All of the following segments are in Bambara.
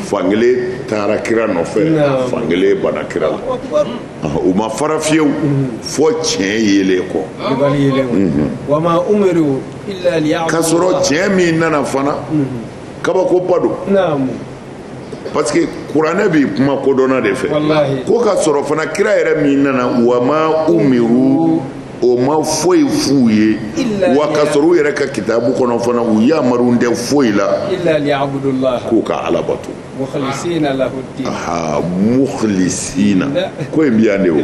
fan kelen taara kira nɔfɛ fan kelen banna kira la u ma fara fiyewu fo tiɲɛ yelen kɔ k'a sɔrɔ tiɲɛ min nana fana kabakoba don parce que kuranɛ bi kuma kodɔnna de fɛ ko k'a sɔrɔ fana kira yɛrɛ min nana wa ma umiru o ma foyi f'u ye wa k'a sɔrɔ u yɛrɛ ka kitabu kɔnɔ fana u yamarulen tɛ foyi la k'u ka ala bato mukhlisina ko in bi yan de o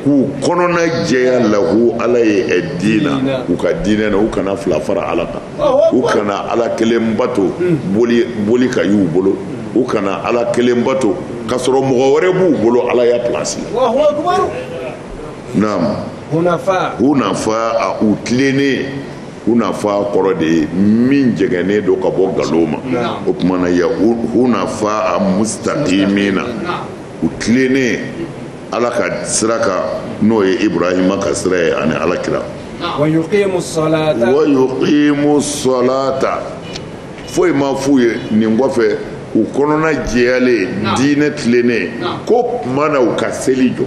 k'u kɔnɔna jɛya lahu ala ye ad-dina u ka diinɛ na u kana fila fara ala kan u kana ala kelen bato boli ka y'u bolo u kana ala kelen bato k'a sɔrɔ mɔgɔ wɛrɛ b'u bolo ala ya pilasi la naam hunafa a u tilennen hunafa kɔrɔ de ye min jɛngɛnnen don ka bɔ ngalon ma o kuma na ya hunafa a mustaqimina u tilennen ala ka sira kan n'o ye ibrahima ka sira ye ani ala kira wa yuqimu salata foyi ma f'u ye nin kɔfɛ u kɔnɔna jɛyalen diinɛ tilennen ko kuma na u ka seli jɔ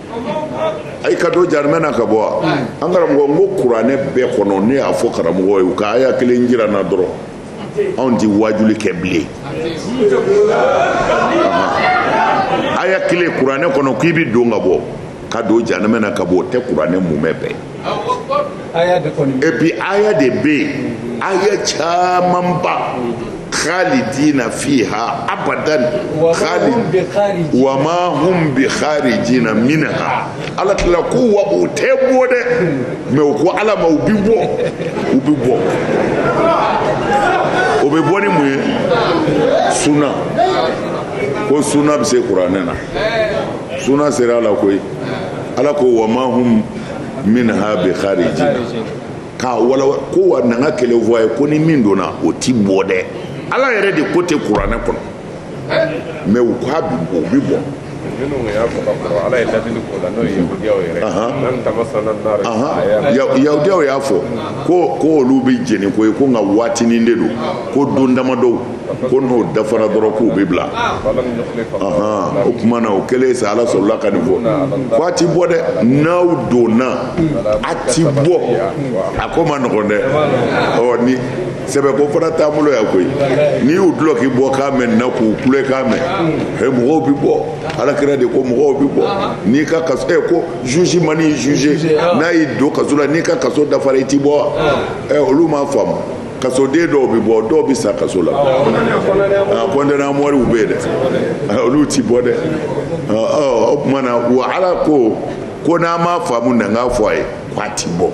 ayi ka don jahanama na ka bɔ wa an karamɔgɔ n ko kuranɛ bɛɛ kɔnɔ ne y'a fɔ karamɔgɔw ye u ka aya kelen jira n na dɔrɔn anw tɛ waajuli kɛ bilen aya kelen kuranɛ kɔnɔ k'i bɛ don ka bɔ ka don jahanama na ka bɔ o tɛ kuranɛ mumɛ bɛɛ et puis aya de bɛ yen aya camanba khalidina fiha abadan wa ma hum bi kharijina minha ala tila ko wa o tɛ bɔ dɛ mais u ko ala ma u bi bɔ u bi bɔ o bɛ bɔ ni mun ye suna ko suna bɛ se kuranɛ na suna sera a la koyi ala ko wa ma hum minha bi kharijina k'a wala ko wa na n ka kɛlɛ fɔ a ye ko ni min donna o ti bɔ dɛ ala yɛrɛ de ko ten kuranɛ kɔnɔ mais u k'a bi bɔ u bi bɔ yahudiyaw y'a fɔ ko olu bɛ jeni koyi ko nka waatinin de don ko don damadɔw ko n'o dafara dɔrɔn k'u bɛ bila o tuma na o kɛlen sa ala sɔrɔla ka nin fɔ ko a ti bɔ dɛ n'aw donna a ti bɔ a ko man nɔgɔn dɛ ɔ nin sɛbɛ ko fana t'an bolo yan koyi n'i y'u dulɔ k'i bɔ k'a mɛn na k'u kule k'a mɛn he mɔgɔw bɛ bɔ ala kira de ko mɔgɔw bɛ bɔ n'i ka kaso ɛ ko juge man'i juge n'a y'i don kaso la n'i ka kaso dafara i ti bɔ wa ɛ olu m'a faamu kasoden dɔw bɛ bɔ dɔw bɛ sa kaso la condamné à mort u bɛ yen dɛ ah, olu ti bɔ dɛ ah, o tuma na wa ala ko ko n'a m'a faamu na n k'a fɔ a ye k'a ti bɔ o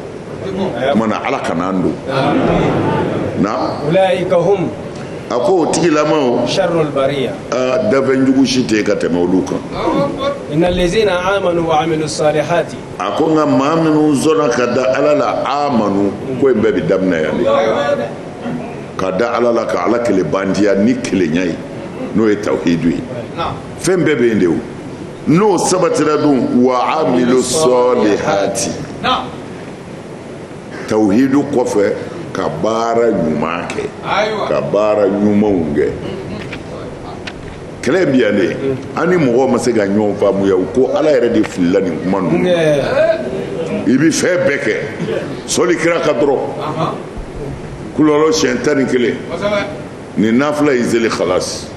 tuma na ala kana an don na a ko o tigilamaw dafɛn jugu si tɛ yen ka tɛmɛ olu kan. a ko nka maa minnu sɔnna ka da ala la amanu ko in bɛɛ bɛ daminɛ yan de ka da ala la ka ala kelen bandiya ni kelenya ye n'o ye tawhidu ye fɛn bɛɛ bɛ yen de o n'o sabatira dun wa amilu sɔlihati tawhidu kɔfɛ ka baara ɲuman kɛ ka baara ɲumanw kɛ kɛlɛ bi yan de an ni mɔgɔw ma se ka ɲɔgɔn faamuya u ko ala yɛrɛ de filila nin kuma ninnu i bi fɛn bɛɛ kɛ sɔli kira kan dɔrɔn kulɔlɔ siɲɛ tan ni kelen ni nafila y'i seli khalasi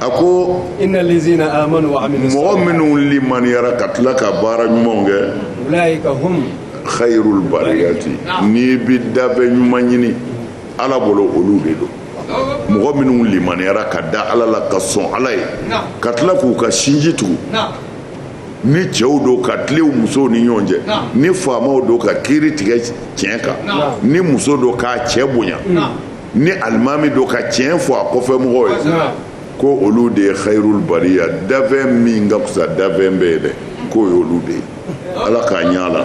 a ko mɔgɔ minnu limaniyara ka tila ka baara ɲumanw kɛ khairul bariyati n'i bi dafɛn ɲuman ɲini ala bolo olu de don mɔgɔ minnu limaniyara ka da ala la ka sɔn ala ye ka tila k'u ka sinji tugu ni cɛw don ka tilen u musow ni ɲɔgɔn cɛ ni faamaw don ka kiri tigɛ tiɲɛ kan ni muso don k'a cɛ bonya ni alimami don ka tiɲɛ fɔ a kɔfɛ mɔgɔw ye ko olu de ye khairul bariya dafɛn min ka fisa dafɛn bɛɛ ye dɛ k'o y'olu de ye ala k'a ɲɛ a la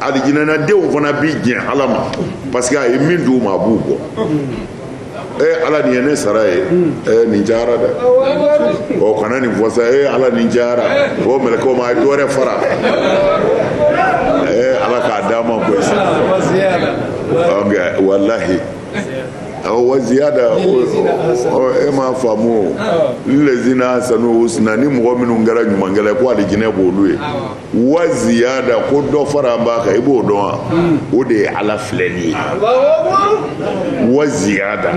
alijinɛnadenw fana bi jɛn ala ma parce que a ye min d'u ma a b'u bɔ ee ala nin ye ne sara ye ee nin cayara dɛ o kana nin fɔ sa ee ala nin cayara o mɛlɛkɛw ma a ye dɔ wɛrɛ fara ee ala k'a d'a ma koyi sa walahi wa ziyada e m'a faamu o lezina ahsanu husna ni mɔgɔ minnu kɛra ɲumankɛla ye ko alijinɛ b'olu ye wa ziyada ko dɔ faralen b'a kan i b'o dɔn wa o de ye ala filɛli ye wa ziyada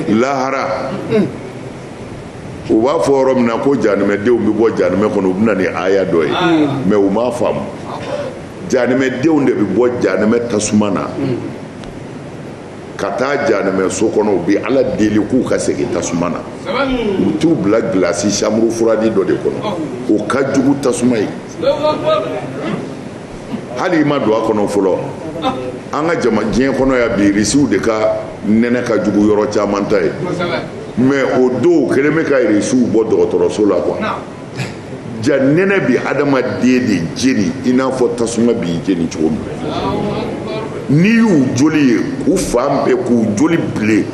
lahara u b'a fɔ yɔrɔ min na ko janimɛdenw bɛ bɔ janimɛ kɔnɔ u bɛ na ni aya dɔ ye mais u m'a faamu janimɛdenw de bɛ bɔ janimɛ tasuma na ka taa janimɛ so kɔnɔ u bɛ ala deli k'u ka segin tasuma na u t'u bila gilasi chambre froide dɔ de kɔnɔ o ka jugu tasuma ye hali i ma don a kɔnɔ fɔlɔ an ka jama diɲɛ kɔnɔ yan bi irisiw de ka nɛnɛ ka jugu yɔrɔ caman ta ye mais o don kelen bɛ ka irisiw bɔ dɔgɔtɔrɔso la kuwa ja nɛnɛ bi adamaden de jeni i n'a fɔ tasuma b'i jeni cogo min n'i y'u joli ye k'u fan bɛɛ k'u joli bilen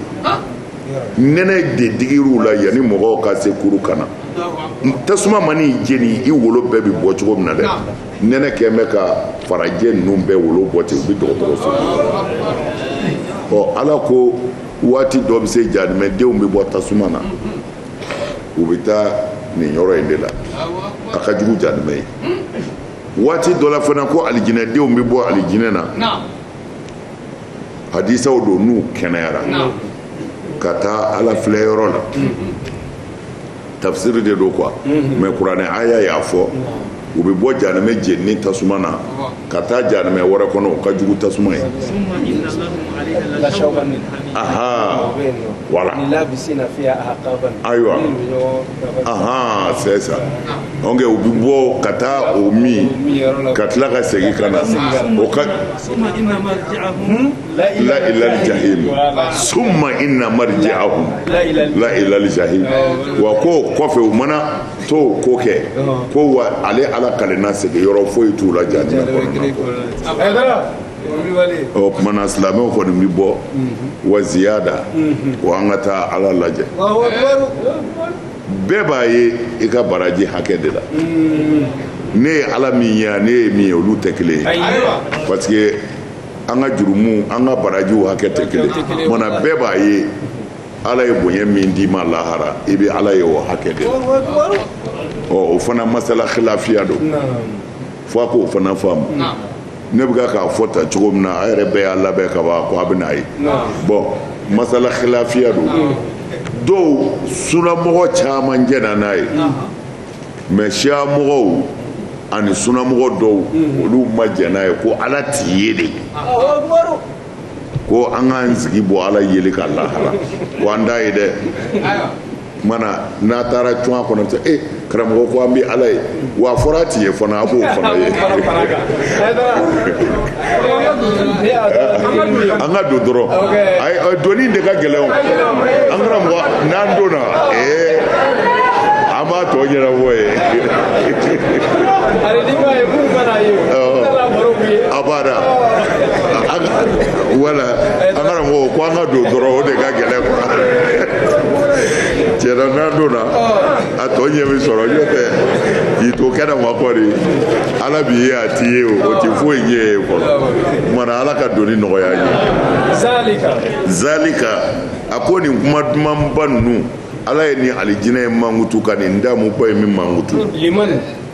nɛnɛ de digir'u la yanni mɔgɔw ka se kuru kana tasuma man'i jeni i wolo bɛɛ bi bɔ cogo min na dɛ nɛnɛ kɛn bɛ ka farajɛ ninnu bɛɛ wolo bɔ ten u bi dɔgɔtɔrɔso ɔ ala ko waati dɔ bɛ se janimɛdenw bɛ bɔ tasuma na u bɛ taa nin yɔrɔ in de la a ka jugu janimɛ ye waati dɔ la fana ko alijinɛdenw bɛ bɔ alijinɛ na hadisaw don n'u kɛnɛyara ka taa ala filɛ yɔrɔ la tafsiri de don quoi mais kuranɛ aya y'a fɔ u bɛ bɔ janimɛ jenini tasuma na ka taa janimɛ wɛrɛ kɔnɔ o ka jugu tasuma ye aha voilà ayiwa aha c'est ça donc u bɛ bɔ ka taa o min ka tila ka segin ka na o ka la ilal jahim summa inna marji'ahum la ilal jahim wa k'o kɔfɛ u mana to ko kɛ ko wa ale ala kalenna segin yɔrɔ foyi t'u la janimɛ kɔ o tumana silamɛw kɔni bɛ bɔ mhm. wa ziyada mhm. ko an ka taa ala lajɛ bɛɛ b'a ye i ka baraji hakɛ de la mhm. ne ye ala min ye n'e ye min ye olu tɛ kelen ye parce que an ka jurumu an ka barajiw hakɛ tɛ kelen ye mais an bɛɛ b'a ye ala ye bonya min d'i ma lahara i bɛ ala ye o hakɛ de la ɔ o fana masala khilafiya don fo a k'o fana faamu ne bɛ k'a fɔ tan cogo min na a yɛrɛ bɛɛ y'a labɛn ka ban ko a bɛn'a ye bɔn masala khilafiya don dɔw sunamɔgɔ caman jɛnna n'a ye mɛ siya mɔgɔw ani sunamɔgɔ dɔw olu ma jɛn n'a ye ko ala ti ye dɛ ko an k'an jigi bɔ ala yeli kan lahara ko an t'a ye dɛ mais an n'an taara cun a kɔnɔ cɛ e eh, karamɔgɔ ko an bɛ ala ye wa a fɔra a ti ye fana a b'o fana ye an ka don dɔrɔn ayi donni de ka gɛlɛn o an karamɔgɔ n'an donna ee eh, an b'a tɔ ɲɛnabɔ yen. abada wala an karamɔgɔ ko an ka don dɔrɔn o de ka gɛlɛn kuwa tiɲɛna n'an donna a tɔ ɲɛ bɛ sɔrɔ n'o tɛ k'i to kɛnɛma kɔni ala b'i ye a t'i ye o o tɛ foyi ɲɛ ye fɔlɔ tuma na ala ka donni nɔgɔya an ye zalika zalika a ko nin kuma dumanba ninnu ala ye nin alijinɛ ye mankutu ka nin damuba ye min mankutu liman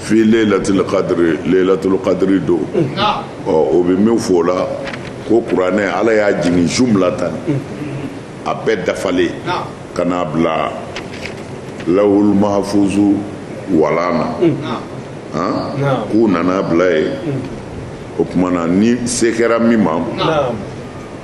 fii leyilatil kadiri leyilatul kadiri don ɔ o bɛ min fɔ o la ko kuranɛ ala y'a jigin jumulatan a bɛɛ dafalen ka n'a bila lawul mahafuzu walan na k'u nan'a bila yen o tuma na ni se kɛra min ma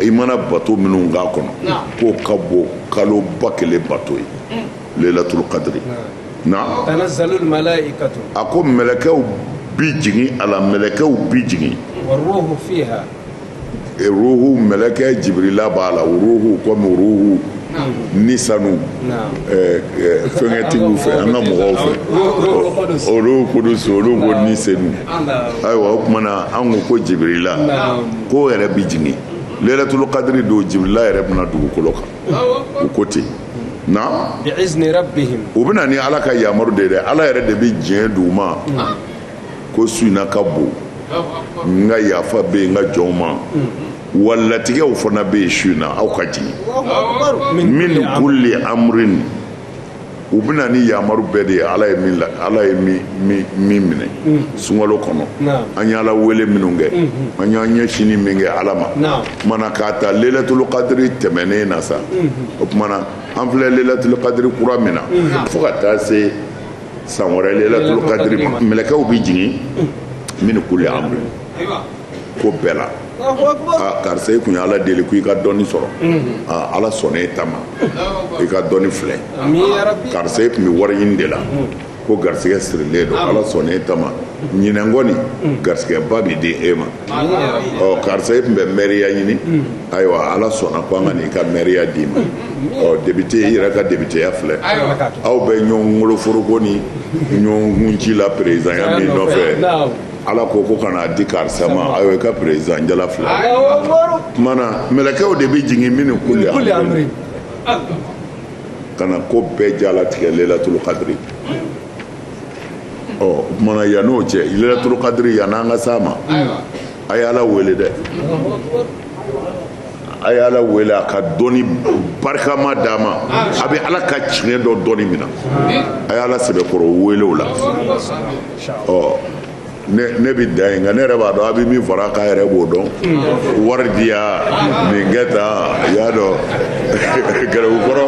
i mana bato minnu k'a kɔnɔ k'o ka bon kalo ba kelen bato ye mm. lelatulu kadiri na a ko mɛlɛkɛw bi jigin a la mɛlɛkɛw bi jigin ruhu mɛlɛkɛ jibirila b'a la ruhu komi ruhu ni sanu eh, eh, fɛnkɛtigiw fɛ an ka mɔgɔw fɛ ruhu kudusu olu ko ni senu ayiwa o tuma na an ko ko jibirila k'o yɛrɛ bi jigin lelatulu kadiri don jibirila yɛrɛ bɛ na dugukolo kan o ko ten Naam u bɛ na ni ala ka yamaru de dɛ ala yɛrɛ de bɛ diɲɛ d'u ma ko su in na ka bon n ka yafa bɛ yen n ka jɔnw ma wa latigɛw fana bɛ yen su in na aw ka jigin min kuli amrin u bɛ na ni yamaru bɛɛ de ye ala ye min la ala ye min min min minɛ mm. sunkalo kɔnɔ Naam. an y'ala wele minnu kɛ mm -hmm. an y'an ɲɛsini min kɛ ala ma Naam. tuma na k'a ta lelatul kadiri tɛmɛnen na sa mm -hmm. o tuma na an filɛ lelatul kadiri kura min na mm -hmm. fo ka taa se san wɛrɛ lelatul kadiri ma mɛlɛkɛw bɛ jigin mm. min kuli amri ko bɛɛ la karisa i tun ye ala deli ko i ka dɔnni sɔrɔ ala sɔnna e ta ma i ka dɔnni filɛ karisa e tun bɛ wari ɲini de la ko garisɛgɛ sirilen don ala sɔnna e ta ma ɲinɛn kɔni garisɛgɛba bɛ di e ma ɔ karisa e tun bɛ mɛriya ɲini ayiwa ala sɔnna ko an ka n'i ka mɛriya d'i ma ɔ depite i yɛrɛ ka depiteya filɛ aw bɛ ɲɔgɔn woloforoko ni ɲɔgɔn kunci la perezidanya min nɔfɛ ala ko ko ka n'a di karisa ma ayiwa i ka perezidan jala filɛ tuma na mɛlɛkɛw de bɛ jigin min kuli amri ka na ko bɛɛ jala tigɛ lelatulu kadiri ɔ o tuma na yann'o cɛ lelatulu kadiri yann'an ka s'a ma a ye ala wele dɛ a ye ala wele a ka dɔnni barikama d'a ma a bɛ ala ka diinɛ dɔn dɔnni min na a ye ala sɛbɛkɔrɔ wele o la ɔ ne bɛ dan yen nka ne yɛrɛ b'a dɔn a bɛ min fara kan e yɛrɛ b'o dɔn wari diya nin kɛ tan i y'a dɔn garibukɔrɔ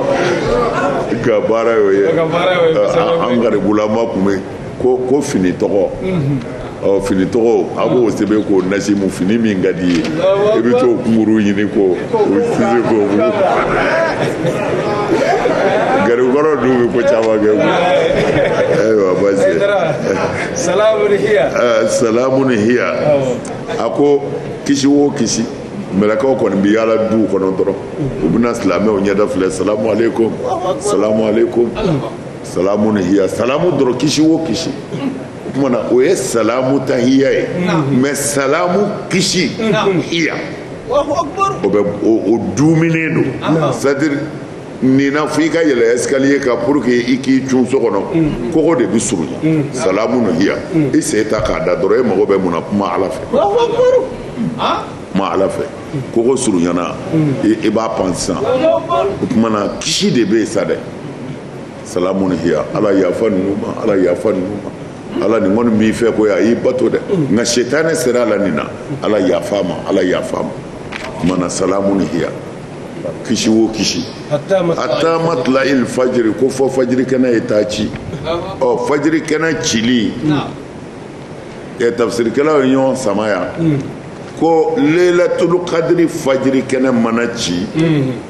ka baara y'o ye an garibulama tun bɛ ko ko fini tɔgɔ ɔ fini tɔgɔ a b'o sɛbɛn k'o nasi mu fini min ka di i ye i bɛ t'o kunkurun ɲini k'o sisi k'o garibukɔrɔ dun bɛ ko caman kɛ koyi ayiwa baasi tɛ salamun hiya eh, salamun hiya a ko kisi o kisi mɛlɛkɛw kɔni bɛ yaala duw kɔnɔ dɔrɔn u bɛna silamɛw ɲɛda filɛ salamu aleykum salamu aleykum salamun hiya salamu dɔrɔn kisi o kisi o tuma na o ye salamu tahiya ye mɛ salamu kisi hiya. o bɛ o dumuni don c'est-à-dire nin na fo i ka yɛlɛ escalier kan pour que i k'i cun so kɔnɔ mm. kogo de bɛ surunya mm. salamun hiya mm. i sen ta k'a da dɔrɔn e mago bɛ mun na kuma ala fɛ kuma ala fɛ kogo surunyana i b'a pan sisan o tuma na kisi de bɛ yen sa dɛ salamu hiya ala yafa ninnu ma ala yafa ninnu ma ala nin kɔni b'i fɛ ko a y'i bato dɛ nka sitanɛ sera a la nin na ala yafa ma ala yafa ma mana salamun hiya kisi o kisi hatta matla'il fajiri ko fo fajiri kɛnɛ ye taa ci ɔ fajiri kɛnɛ cili ɛ tafsirikɛlaw ye ɲɔgɔn sama yan ko leilatul kadiri fajiri kɛnɛ mana ci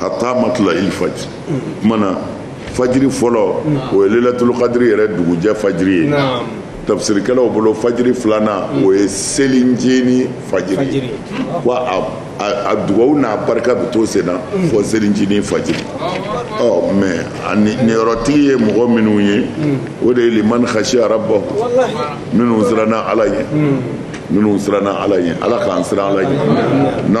hatta matla'il fajiri mana fajiri fɔlɔ o ye lelatulukadiri yɛrɛ dugujɛ fajiri ye tafsirikɛlaw bolo fajiri filanan mm. o ye selincinin fajiri wa a dugawu n'a barika bɛ to sen na mm. fo selincinin fajiri ɔ mɛ ani niyɔrɔtigi ye mɔgɔ minnu ye mm. o de ye liman khasiya rabahu minnu siranna ala ɲɛ minnu siranna ala ɲɛ ala k'an siran ala ɲɛ na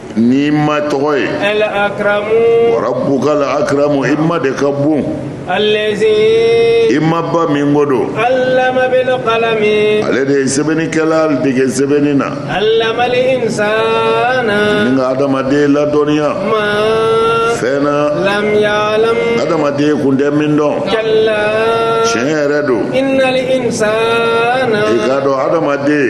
n'i ma tɔgɔ ye wa rabukal akaramu i ma de ka bon i ma ba min ko don ale de ye sɛbɛnnikɛla dege sɛbɛnni na ni ka adamaden ladɔnniya fɛn na adamaden tun tɛ min dɔn tiɲɛ yɛrɛ don i k'a dɔn adamaden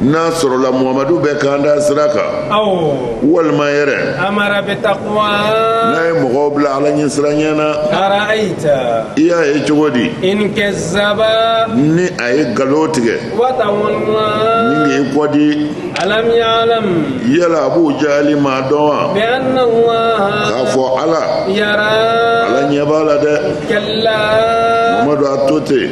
n'a sɔrɔla muhamadu bɛ kanda sira kan walima yɛrɛ n'a ye mɔgɔw bila ala ɲɛsiranɲɛ na i y'a ye cogo di ni a ye nkalon tigɛ ni k'i kɔ di yala abu jali m'a dɔn wa k'a fɔ ala ala ɲɛ b'a la dɛ mamadu a to ten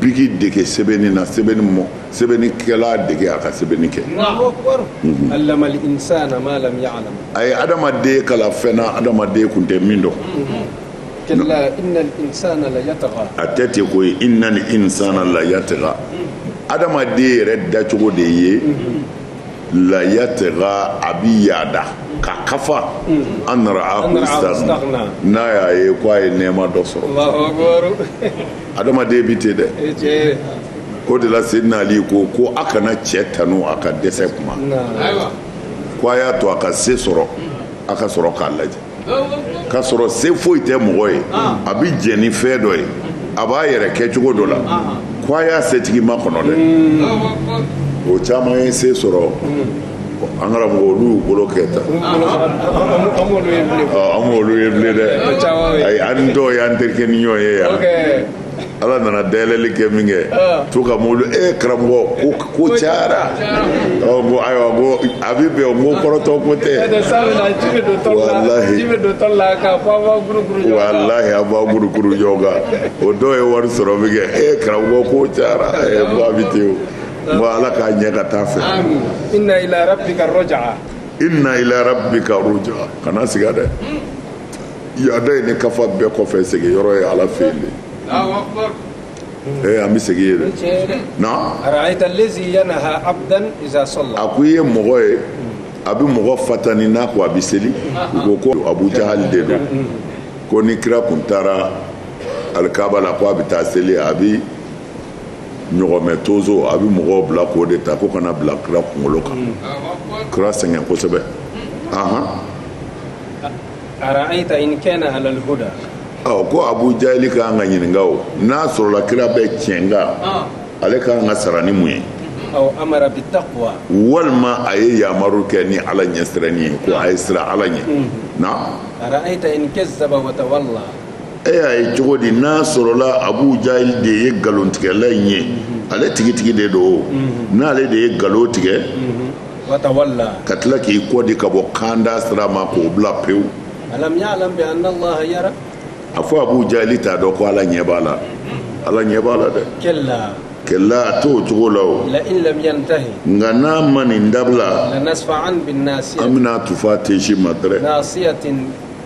biki dege sɛbɛnni na sɛbɛnni mɔ sɛbɛnnikɛla dege a ka sɛbɛnni kɛ mhm. a ye adamaden kalan fɛn na adamaden kun tɛ min dɔn mhm. a tɛ ten koyi innal insana la yatgha mhm. adamaden yɛrɛ dacogo de ye la yatgha a bi yaada ka kafa an ra'ahu istaghna n'a y'a ye ko a ye nɛɛma dɔ sɔrɔ adamaden bɛ ten dɛ o de la seydina ali ko ko a kana cɛ tanu a ka dɛsɛ kuma ko a y'a to a ka se sɔrɔ a ka sɔrɔ k'a lajɛ ka sɔrɔ se foyi tɛ mɔgɔ ye a bɛ jɛn ni fɛn dɔ ye a b'a yɛrɛ kɛ cogo dɔ la ko a y'a setigi makɔnɔ dɛ o caman ye se sɔrɔ an karamɔgɔ olu y'u bolo kɛ tan an m'olu ye bilen dɛ ayi an ni dɔw y'an terikɛ ni ɲɔgɔn ye yan ala nana dayɛlɛli kɛ minkɛ to ka mobili e karamɔgɔ ko ko cayara ɔ ko ayiwa ko a bɛ bɛn ko kɔrɔtɔ ko tɛ walahi walahi a b'a guruguru ɲɔgɔn kan o dɔw ye wari sɔrɔ minkɛ e karamɔgɔ ko cayara e ko a bɛ ten o Bon ala k'a ɲɛ ka taa fɛ inna ila rabbika ruj'a inna ila rabbika ruj'a kana siga dɛ yaada ani kafa bɛɛ kɔfɛ segin yɔrɔ ye ala fɛ yen de ee an bɛ segin yen dɛ na ara'ayta allazi yanha abdan iza salla a ko i ye mɔgɔ ye a bɛ mɔgɔ fatani n'a ko a bɛ seli u ko ko abu jahali de don ko ni kira kun taara alikaaba la ko a bɛ taa seli a bɛ ɲɔgɔmɛ tonso a bɛ mɔgɔw bila k'o de ta ko ka n'a bila kira kunkolo kan kira sɛgɛn kosɛbɛ ahan ara'aita in kana alal huda ɔ ko abu jahili ka kan ka ɲininka o n'a sɔrɔla kira bɛ tiɲɛ kan ah. ale ka kan ka sara ni mun ye aw amara bi taqwa walima a ye yamaru kɛ ni ala ɲɛsiranni ye ko a ye siran ala ɲɛ mm-hmm. na ara'aita in kazzaba wa tawalla e y'a ye cogo di n'a sɔrɔla abu jahil de ye nkalontigɛla in ye ale tigitigi de don o n'ale de ye nkalon tigɛ ka tila k'i kɔ di ka bɔ kanda sira ma k'o bila pewu a fɔ abu jahili t'a dɔn ko ala ɲɛ b'a la ala ɲɛ b'a la dɛ kalla a t'o cogo la o nka n'a ma nin dabila an bɛn'a tufa tensi ma dɛrɛ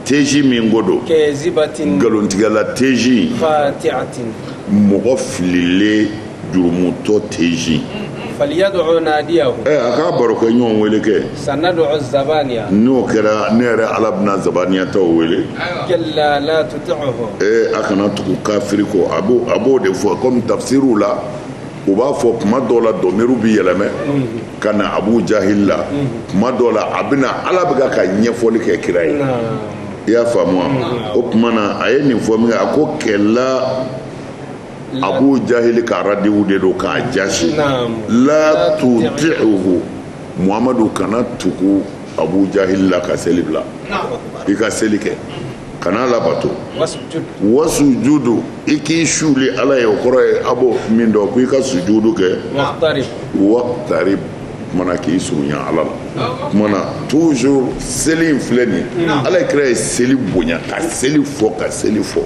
teji min ko don nkalontigɛla teji mɔgɔ fililen jurumutɔ teji ɛ a k'a barokɛɲɔgɔn wele kɛ n'o kɛra ne yɛrɛ ala bɛna zabaniyataw wele ee a kana tugu kafiri kɔ a b'o de fɔ komi tafisiriw la u b'a fɔ kuma dɔ la dɔmiru bɛ yɛlɛmɛ ka na abu jahili la kuma dɔ la a bɛna ala bɛ ka ɲɛfɔli kɛ kira ye i y'a faamu wa o tuma na a ye nin fɔ minkɛ a ko kɛla abu jahili ka radiwu de don k'a jasi la tuti'uhu muhamadu kana tugu abu jahili la ka seli bila i ka seli kɛ kana labato wasujudu i k'i suuli ala ye o kɔrɔ ye a b'o min dɔn ko i ka sujudu kɛ waqtarib mana k'i surunya ala la o tuma na toujours seli in filɛ nin ye ala ye kira ye seli bonya ka seli fɔ ka seli fɔ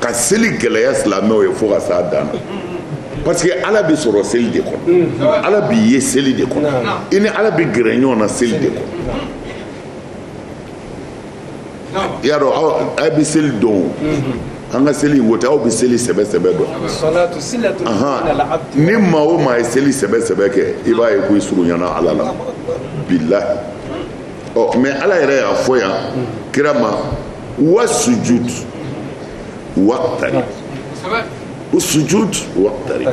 ka seli gɛlɛya silamɛw ye fo ka s'a dan na parce que ala bɛ sɔrɔ seli de kɔnɔ ala b'i ye seli de kɔnɔ i ni ala bɛ gɛrɛ ɲɔgɔn na seli de kɔnɔ i y'a dɔn aw bɛ seli dɔn o an ka seli in ko tɛ aw bɛ seli sɛbɛ sɛbɛ dɔn ni maa o maa ye seli sɛbɛ sɛbɛ kɛ i b'a ye ko i surunyana ala la bilahi ɔ mais ala yɛrɛ y'a fɔ yan kira ma wa sujud waqtarib o sujud waqtarib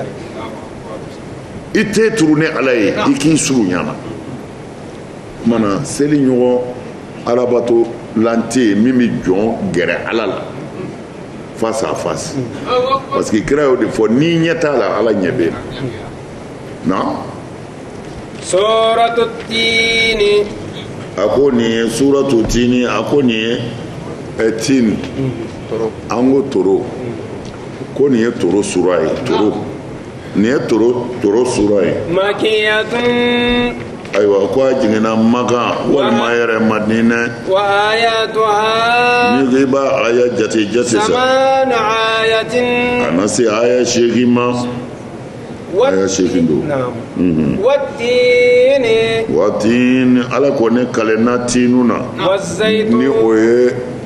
i ten turu ne ala ye i k'i surunya n na o tuma na seli ɲɔgɔn alabatolan tɛ min bɛ jɔn gɛrɛ ala la face à face parce que kira y'o de fɔ n'i ɲɛ t'a la ala ɲɛ bɛ na suratu tini a ko nin ye suratu tini a ko nin ye eh, tini an ko toro ko nin ye toro sura ye toro nin ye toro toro sura ye makiyatun ayiwa ko a jiginna makan walima yɛrɛ madinɛ wa ayatuha n'i ko i b'a aya jate jate samanu ayatin a na se aya seegin ma aya seegin don mhm. watini watini ala ko ne kalenna tiinu na ni o ye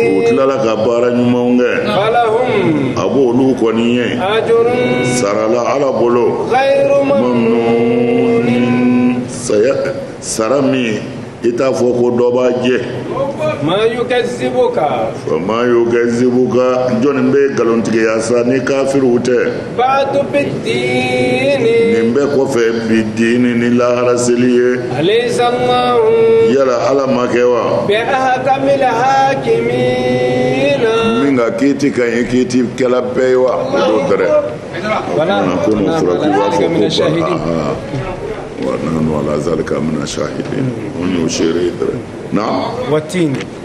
u tilala ka baara ɲumanw kɛ a b'olu kɔni ye sarala ala bolo sara min i t'a fɔ ko dɔ b'a jɛ ma yukazibuka jɔnni b'i nkalontigiya sa ni kafiriw tɛ baadu bi diini. nin bɛɛ kɔfɛ bi diini ni lahara seli ye. alayisa alahu. yala ala ma kɛ wa. bi ahakamili hakimiina. min ka kiiti ka ɲi kiiti kɛla bɛɛ ye wa. o don dɛrɛ. wala ko n'o fɔra k'u b'a fɔ ko aa wa nahnu ala zalika mina shahidin o y'o seere ye dɛrɛ. na. wa tiini.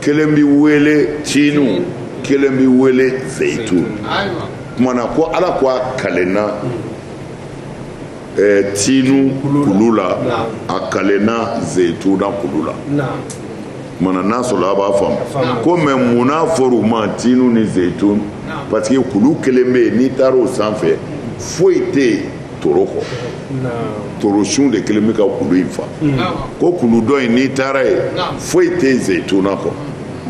kelen bɛ wele tiinu kelen bɛ wele zeyitun kumana ko ala ko a kalenna eh, tiinu kulu la a kalenna zeyituna kulu la kumana n'a sɔrɔ a b'a faamu ko mɛ mun n'a fɔr'u ma tiinu ni zeyitun parce que kulu kelen bɛ yen n'i taara o sanfɛ foyi tɛ yen toro kɔ toro sun de kelen bɛ ka kulu in fa ko kulu dɔ in n'i taara yen foyi tɛ yen zeyituna kɔ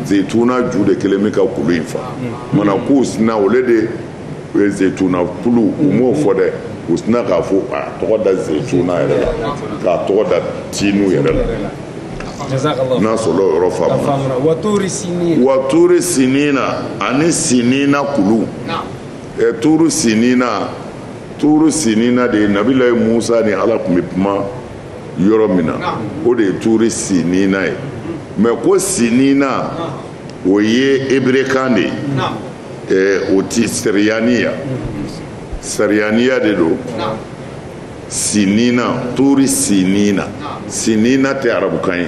zeyituna ju de kelen bɛ ka kulu in fa mana k'u sinna o le de ye zeyituna kulu u m'o fɔ dɛ u sinna k'a fɔ a tɔgɔ da zeyituna yɛrɛ la k'a tɔgɔ da tiinu yɛrɛ la n'a sɔrɔ o yɔrɔ faamuna wa tuuri sinina ani sinina kulu tuuru sinina tuuru sinina de ye nabilayi musa ni ala tun bɛ kuma yɔrɔ min na o de ye tuuru sinina ye mɛ ko sinina o ye eberekan de ye ɛɛ o ti sariyaniya sariyaniya de don sinina tuuru sinina sinina tɛ arabukan ye.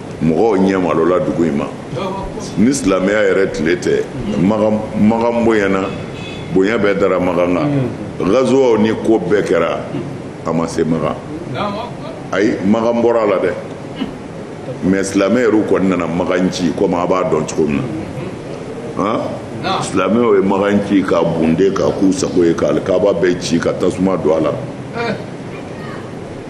mɔgɔw ɲɛ malola dugu in ma ni silamɛya yɛrɛ tile tɛ makan bonyana bonya bɛɛ dara makan kan mm. gazuwaw ni ko bɛɛ kɛra a ma se makan ayi makan bɔra a la dɛ mɛ silamɛ yɛrɛw kɔni nana makan ci komi a b'a dɔn cogo min na silamɛw ye makan ci ka bunde ka k'u sago ye ka alikaaba bɛɛ ci ka tasuma don a la eh.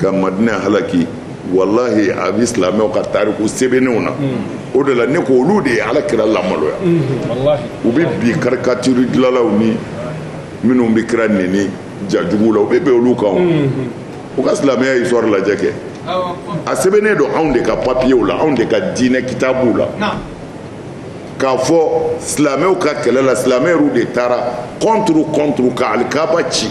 ka madina halaki walahi a bɛ silamɛw ka tariku sɛbɛnnenw na hmm. o de la ne ko olu de ye ala kira lamaloya hmm. u bɛ bi karikatiri dilanlaw ni minnu bɛ kira neni jajugu la u bɛ bin olu kan hmm. u ka silamɛya histoire lajɛ kɛ a sɛbɛnnen don anw de ka papiyew la anw de ka diinɛ kitabuw la k'a fɔ silamɛw ka kɛlɛ la silamɛ yɛrɛw de taara contre contre ka alikaba ci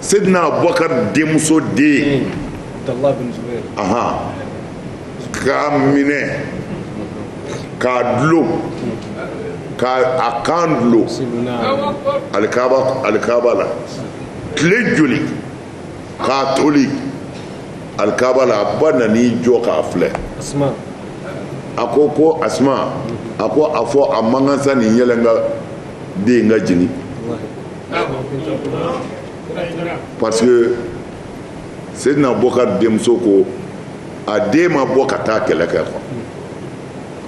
Seydina Abubakari denmuso den k'a minɛ k'a dulon k'a kan dulon alikaaba la tile joli k'a toli alikaaba la a ba nan'i jɔ k'a filɛ a ko ko Asuma a ko a fɔ a man kan sa nin yɛlɛ n ka den in ka jigin parce que Seydina Bokar denmuso ko a den ma bɔ ka taa kɛlɛ kɛ quoi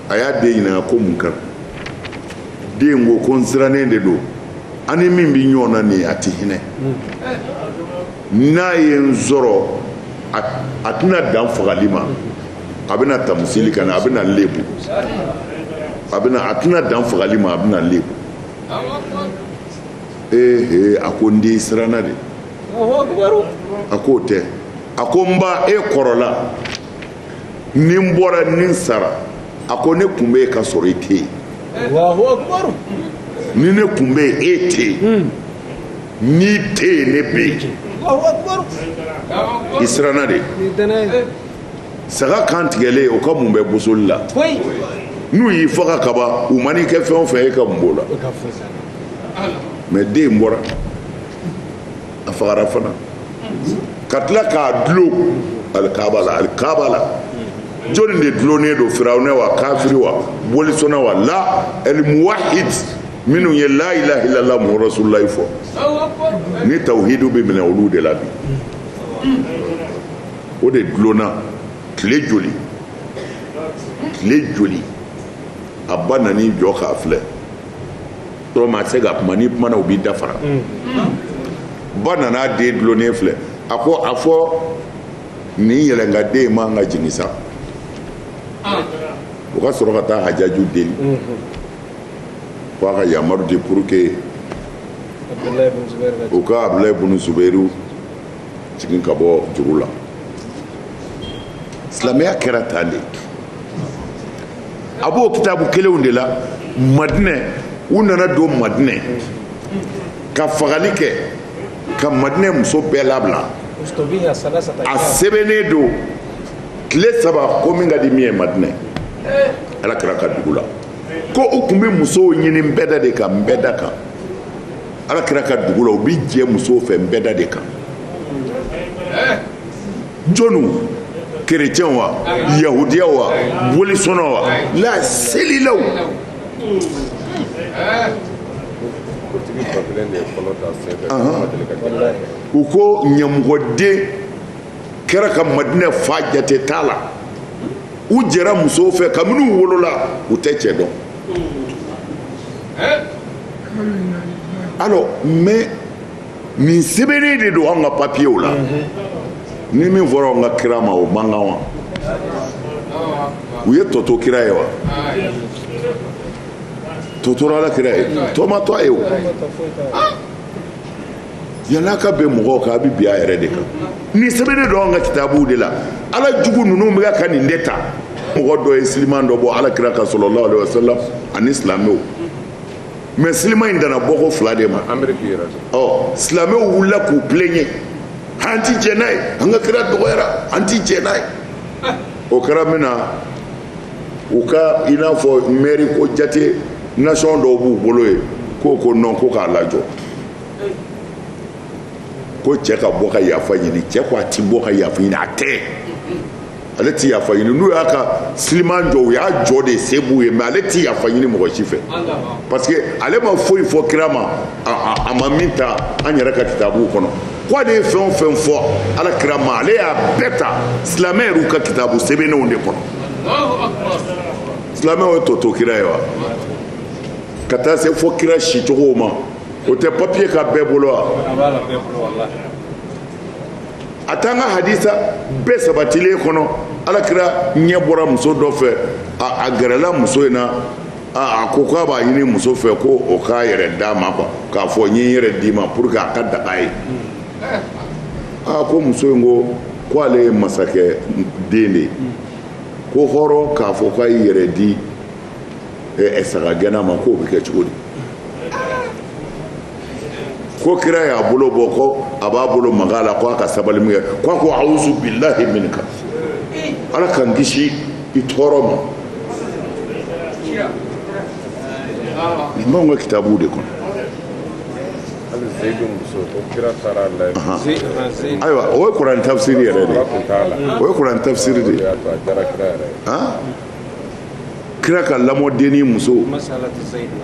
a y'a den ɲininka ko mun kɛra den ko ko n sirannen de don an ni min bɛ ɲɔgɔn na nin ye a tɛ hinɛ n'a ye n sɔrɔ a tɛna dan fagali ma a bɛna tamusili kɛ n na a bɛna n lebu a bɛna a tɛna dan fagali ma a bɛna n lebu ee a ko n den i siranna de a k'o tɛ a ko n ba e kɔrɔla ni n bɔra ni n sara a ko ne kun bɛ yen ka sɔrɔ i tɛ yen ni ne kun bɛ yen e tɛ yen hmm. n'i tɛ yen ne bɛ yen i siranna de saga kan tigɛlen o ka mun bɛ bosoli la n'u y'i faga kaban u man'i kɛ fɛn o fɛn e ka mun b'o la mais den bɔra a fagara fana ka tila k'a dulon alikaba la alikaba la jɔni de dulonnen don firawunɛ wa kafiri wa bolisɔnna wa la alimuwahid minnu ye la ilaha illallah muhamadu rasululayi fɔ ni tawhidu bɛ minɛ olu de la bi o de dulonna tile joli tile joli a ba nan'i jɔ k'a filɛ yɔrɔ maa tɛ se ka kuma n'i kumana u b'i da fara ba nana a den dulonnen filɛ a ko a fɔ nin yɛlɛnka den in man ka jigin sa o ka sɔrɔ ka taa hajaju deli ko a ka yamaru di pour que u ka abulayi bunu zubairu jigin ka bɔ juru la silamɛya kɛra tan de a b'o kitabu kelenw de la madinɛ u nana don madinɛ ka fagali kɛ ka madinɛ muso bɛɛ labila a sɛbɛnnen don tile saba ko min ka di min ye madinɛ ala kira ka dugu la ko u tun bɛ musow ɲini nbɛda de kan nbɛda kan ala kira ka dugu la u bɛ jɛ musow fɛ nbɛda de kan jɔniw kerecɛnw wa yahudiyaw wa bolisɔnnaw wala selilaw u ko ɲamɔgɔden kɛra ka madinɛ fa jate t'a la u jɛra musow fɛ kabini u wolola u tɛ cɛ dɔn alors mais nin sɛbɛnnen de don an ka papiyew la ni min fɔra an ka kira ma o man kan wa u ye tɔ to kira ye wa tɔ tora ala kira ye tɔ ma to a ye o yala ka bin mɔgɔw kan a bɛ bin a yɛrɛ de kan nin sɛbɛnnen don an ka kitabuw de la ala jugu ninnu bɛ ka nin de ta mɔgɔ dɔ ye siliman dɔ bɔ ala kira kan sallallahu alaihi wasallam mais siliman in danna bɔko fila de ma ɔ silamɛw wulila k'u plaigner an ti jɛn n'a ye an ka kira dɔgɔyara an ti jɛn n'a ye o kɛra min na u ka i n'a fɔ mairie ko jate nation dɔw b'u bolo ye k'o ko non ko k'a lajɔ ko cɛ ka bɔ ka yafa ɲini cɛ ko a ti bɔ ka yafa ɲini a tɛ ale tɛ yafa ɲini n'u y'a ka siliman jɔ u y'a jɔ de se b'u ye mais ale tɛ yafa ɲini mɔgɔ si fɛ parce que ale ma foyi fɔ kira ma a ma min ta an yɛrɛ ka kitabuw kɔnɔ ko ale ye fɛn o fɛn fɔ ala kira ma ale y'a bɛɛ ta silamɛ yɛrɛw ka kitabu sɛbɛnnenw de kɔnɔ silamɛw ye tɔ to kira ye wa ka taa se fo kira sicogow ma o tɛ papiye kan bɛɛ bolo wa a t'an ka hadisa bɛɛ sabatilen kɔnɔ ala kira ɲɛ bɔra muso dɔ fɛ a gɛrɛla muso in na a ko k'a b'a ɲini muso fɛ ko o k'a yɛrɛ d'a ma quoi k'a fɔ n ye n yɛrɛ d'i ma pour que a ka daga a ye aa ko muso in ko ko ale ye masakɛ den de ye ko hɔrɔn k'a fɔ k'a y'i yɛrɛ di ɛ sagagɛnna ma k'o bɛ kɛ cogo di ko kira y'a bolo bɔ ko a b'a bolo maga a la ko a ka sabali min kɛ ko a ko awuzu bilahi minka ala k'an kisi i tɔɔrɔ ma nin b'anw ka kitabuw de kɔnɔ ayiwa o ye kuranɛ tafsiri yɛrɛ de ye o ye kuranɛ tafsiri de ye kira ka lamɔdenni muso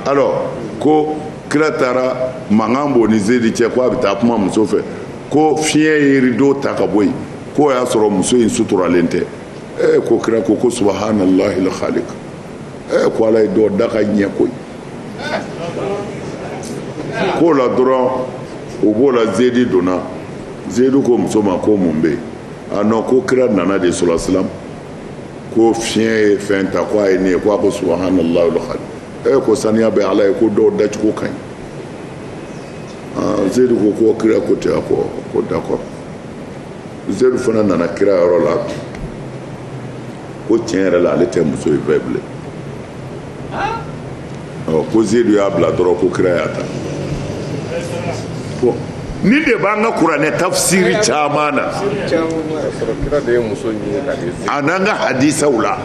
alors ko kira taara mankan b'o ni zeyidi cɛ ko a bɛ taa kuma muso fɛ ko fiɲɛ ye rido ta ka bɔ yen k'o y'a sɔrɔ muso in suturalen tɛ ee ko kira ko ko subahanallahi lkhalik ee ko ala ye dɔ da ka ɲɛ koyi k'o la dɔrɔn o bɔla zeyidi donna zeyidi ko muso ma ko mun bɛ yen a non ko kira nana dɛ sallallahu alayhi wasallam ko fiɲɛ ye fɛn ta ko a ye ne ye ko a ko subahanallahi lkhalik e ko saniya bɛ ala ye ko dɔw dacogo ka ɲi zeyidu ko ko kira ko ten a ko ko d'accord zeyidu fana nana kira yɔrɔ la ko tiɲɛ yɛrɛ la ale tɛ muso in fɛ bilen ko zedu y'a bila dɔrɔn ko kira y'a ta nin de b'an ka kuranɛ tafsiri caman na a n'an ka hadisaw la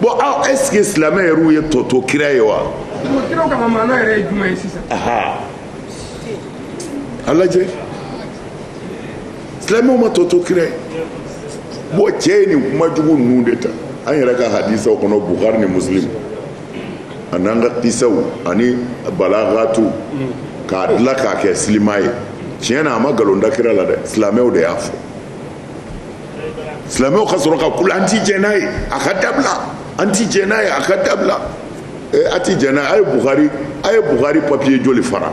bon aw est-ce que silamɛ yɛrɛw ye tɔ to kira ye wa a lajɛ silamɛw ma tɔ to kira ye bon cɛ ye nin kuma jugu ninnu de ta an yɛrɛ ka hadisaw kɔnɔ bukari ni muslim a n'an ka kisaw ani balagatu k'a dilan k'a kɛ silima ye tiɲɛ na a ma nkalon da kira la dɛ silamɛw de y'a fɔ silamɛw ka sɔrɔ ka kule an ti jɛn n'a ye a ka dabila an ti jɛn n'a ye a ka dabila a ti jɛn n'a ye a ye bukari a ye bukari papiye joli fara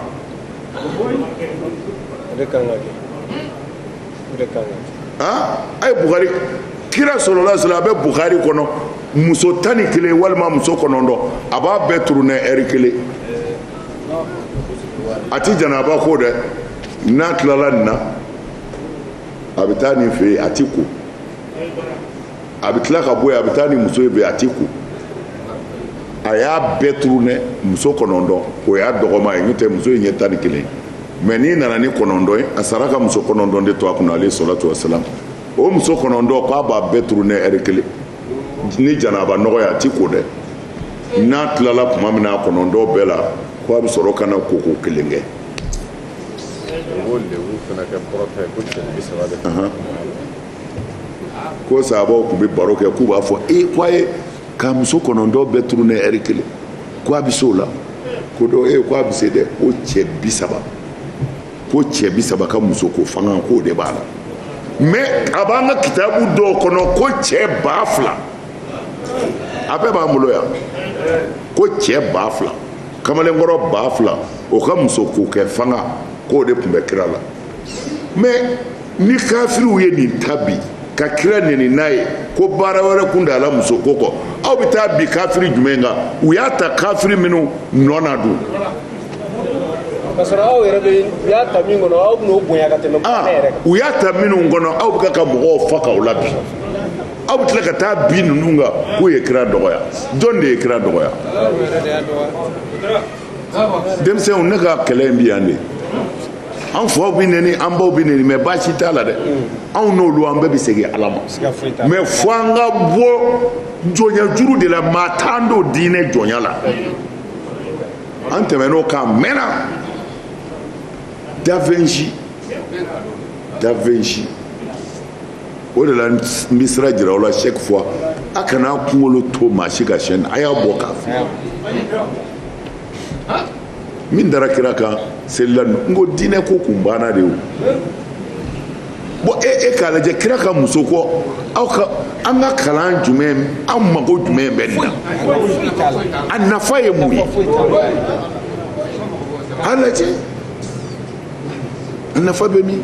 a ye bukari kira sallallahu alayhi wasallam a bɛ bukari kɔnɔ muso tan ni kelen walima muso kɔnɔntɔn a b'a bɛɛ turune ɛri kelen a ti janaba ko dɛ n'a tilala nin na a bɛ taa nin fɛ yen a t'i ko a bɛ tila ka bɔ yen a bɛ taa nin muso in fɛ a t'i ko a y'a bɛɛ turune muso kɔnɔntɔn o y'a dɔgɔman ye n'o tɛ muso in ye tan ni kelen mɛ n'i nana ni kɔnɔntɔn ye a sara ka muso kɔnɔntɔn de to a kunna alayhi salatu wasalam o muso kɔnɔntɔn k'a b'a bɛɛ turune ɛri kelen ni janaba nɔgɔ ye a t'i ko dɛ n'a tilala tuma min na a kɔnɔntɔn bɛɛ la ko a bɛ sɔrɔ ka na koko kelen kɛ. o b'o lebu fana kɛ kɔrɔta ye ko cɛ bi saba de. ko sahabaw tun bɛ baro kɛ k'u b'a fɔ e ko a y'a ka muso kɔnɔntɔn bɛɛ turune ɛri kelen ko a bɛ se o la ko dɔ e ko a bɛ se dɛ ko cɛ bi saba ko cɛ bi saba ka musoko fanga k'o de b'a la mɛ a b'an ka kitabu dɔw kɔnɔ ko cɛ ba fila a bɛɛ b'an bolo yan ko cɛ ba fila kamalenkɔrɔ ba fila o ka musoko kɛ fanga k'o de tun bɛ kira la mais ni kafiriw ye nin ta bi ka kira neni n'a ye ko baara wɛrɛ kun t'a la muso ko kɔ aw bɛ taa bin kafiri jumɛn kan u y'a ta kafiri minnu nɔ na dun ka sɔrɔ aw yɛrɛ bɛ u y'a ta min kɔnɔ aw bɛn'o bonya ka tɛmɛ ah, ne yɛrɛ kan u y'a ta minnu kɔnɔ aw bɛ ka mɔgɔw faga o la bi aw bɛ tila ka taa bin ninnu kan k'u ye kira dɔgɔya jɔn de ye kira dɔgɔya denmisɛnw ne ka kɛlɛ in bi yan de an faw bi neni an baw bi neni mais baasi t'a la dɛ anw n'olu an bɛɛ bi segin ala ma mais fo an ka bɔ jɔnya juru de la maa t'an don diinɛ jɔnya la an tɛmɛn'o kan mɛnna davenji davenji o de la n bɛ sira jira aw la chaque fois a kana a kunkolo to maa si k'a cɛn a y'a bɔ k'a fili min dara kira kan selila n ko diinɛ ko kun banna de o bon e e k'a lajɛ kira ka muso ko aw ka an ka kalan jumɛn aw mago jumɛn bɛ nin na a nafa ye mun ye a lajɛ a nafa bɛ min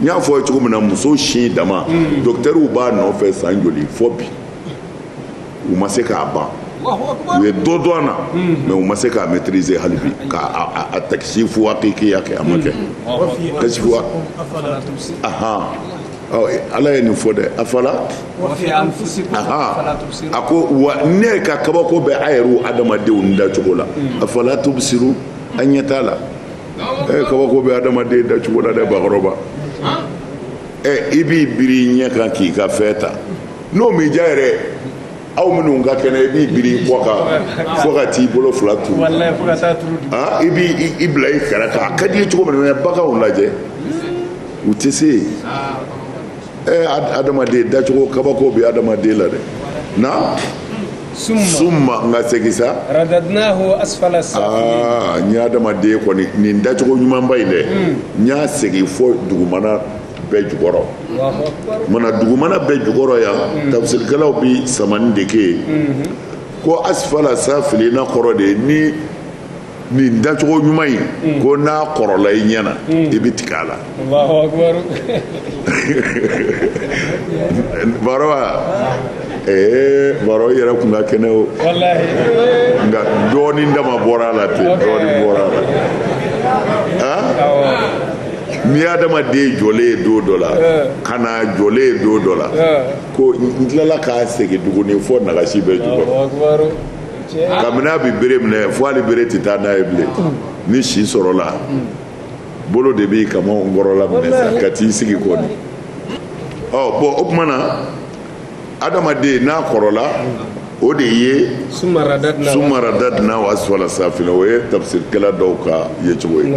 n y'a fɔ ye cogo min na muso sin dama hmm. docteurw b'a nɔfɛ san joli fo bi u ma se k'a ban u ye dɔ dɔn a na mais u ma se k'a maîtriser hali bi k'a takisifu hakikiya kɛ a ma kɛ kasifu ahan ala ye nin fɔ dɛ afala a ko wa ne ka kabako bɛ a yɛrɛw adamadenw dacogo la afala tubisiru a ɲɛ t'a la ɛ kabako bɛ adamaden dacogo la dɛ bakɔrɔba ɛ i b'i biri i ɲɛ kan k'i ka fɛn ta n'o m'i diya yɛrɛ aw minnu ka kɛnɛ i b'i biri i kɔ kan fo ka t'i bolo fila turu i b'i i bila i kɛrɛ kan a ka di i ye cogo min na baganw lajɛ u tɛ se yen. ɛ adamaden dacogo kabako bɛ adamaden la dɛ na summa nka segin sa radadnahu asfala safilin n ye adamaden kɔni nin dacogo ɲumanba in dɛ n y'a segin fo dugumana bɛɛ jukɔrɔ mana dugumana bɛɛ jukɔrɔ yan tafsirikɛlaw bi samani de kɛ yen ko asfala safilina kɔrɔ de ye ni nin dacogo ɲuman in mm. ko n'a kɔrɔla i ɲɛna mm. i bɛ tigɛ a la baro wa ee baro i yɛrɛ kun ka kɛnɛ o nka dɔɔnin dama bɔra a la ten dɔɔnin bɔra a la han n'i ye adamaden jɔlen ye don dɔ la eh. ka na jɔlen ye don dɔ la eh. ko n tilala k'a segin tuguni fo nagasi bɛɛ jukɔrɔ kabini a bɛ bere minɛ fo hali bere tɛ taa n'a ye bilen ni si sɔrɔla bolo de b'i kamankɔrɔla minɛ sa ka t'i sigi kɔni ɔ bɔn o tuma na adamaden n'a kɔrɔla o de ye summa radadnahu asfala safilina o ye tafsirikɛla dɔw ka yecogo ye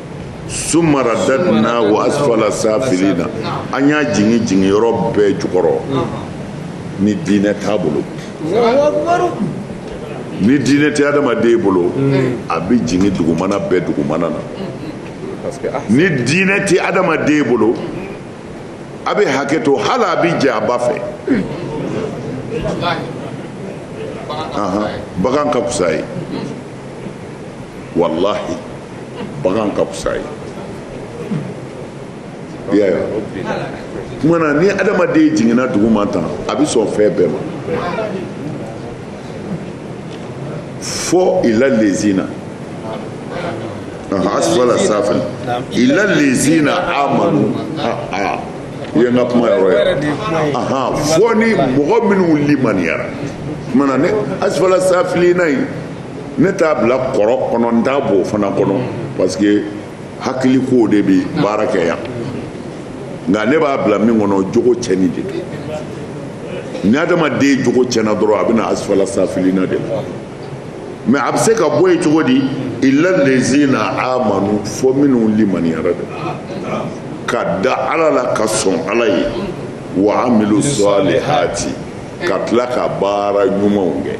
summa radadnahu asfala safilina an y'a jigin jiginyɔrɔ bɛɛ jukɔrɔ ni diinɛ t'a bolo ni diinɛ tɛ adamaden bolo a bɛ jigin dugumana bɛɛ dugumana na ni diinɛ tɛ adamaden bolo a bɛ hakɛ to hali a bɛ jɛ a ba fɛ bagan ka fisa ye walahi bagan ka fisa ye i y'a ye tuma na ni adamaden jiginna duguma tan a bɛ sɔn fɛn bɛɛ ma fo illa lezina asfala safil illa lezina amanu o ye n ka kumayɔrɔ ye ahan fo ni mɔgɔ minnu limaniyara tuma na ne asfala safilina in ne t'a bila kɔrɔ kɔnɔ n t'a b'o fana kɔnɔ parce que hakili kow de bi baara kɛ yan nka ne b'a bila min kɔnɔ jogo cɛnni de don ni adamaden jogo cɛnna dɔrɔn a bɛ na asfala safilina de la mais a bɛ se ka bɔ yen cogo di illa lezina amanu fo minnu limaniyara de ka da ala la ka sɔn ala ye wa amilu salihati ka tila ka baara ɲumanw kɛ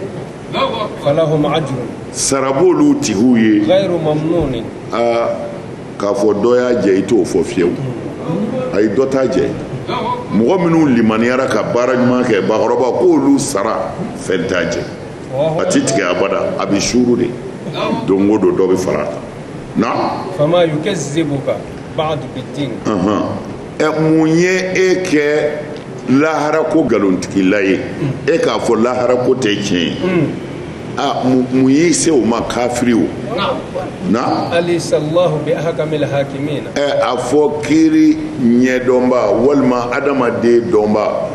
falahum ajrun sara b'olu tigiw ye ghayru mamnunin aa k'a fɔ dɔ y'a jɛ i t'o fɔ fiyewu ayi dɔ t'a jɛ mɔgɔ minnu limaniyara ka baara ɲuman kɛ bakɔrɔba k'olu sara fɛn t'a jɛ a tɛ tigɛ abada a bɛ suuru de don o don dɔ bɛ fara a kan na fama yukazzibuka ba'du bid-din ɛ mun ye e kɛ lahara ko nkalontigila ye e k'a fɔ lahara ko tɛ tiɲɛ ye hmm. a mun y'i se o ma kafiri o na alaysallahu bi ahkamil hakimina ɛ a fɔ kiri ɲɛdɔnba walima adamaden dɔnba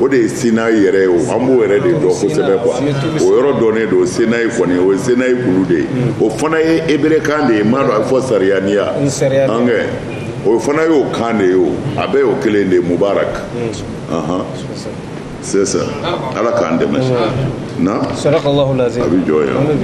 o de ye sinayi yɛrɛ ye o an b'o yɛrɛ de dɔn kosɛbɛ quoi o yɔrɔ dɔnnen don sinayi kɔni o ye sinayi kulu de ye o fana ye eberekan de ye m'a dɔn a bɛ fɔ sariyaniya ankɛ o fana y'o kan de ye o a bɛɛ y'o kelen de ye mubarak c'est ça ala k'an dɛmɛ na a bɛ jɔ yan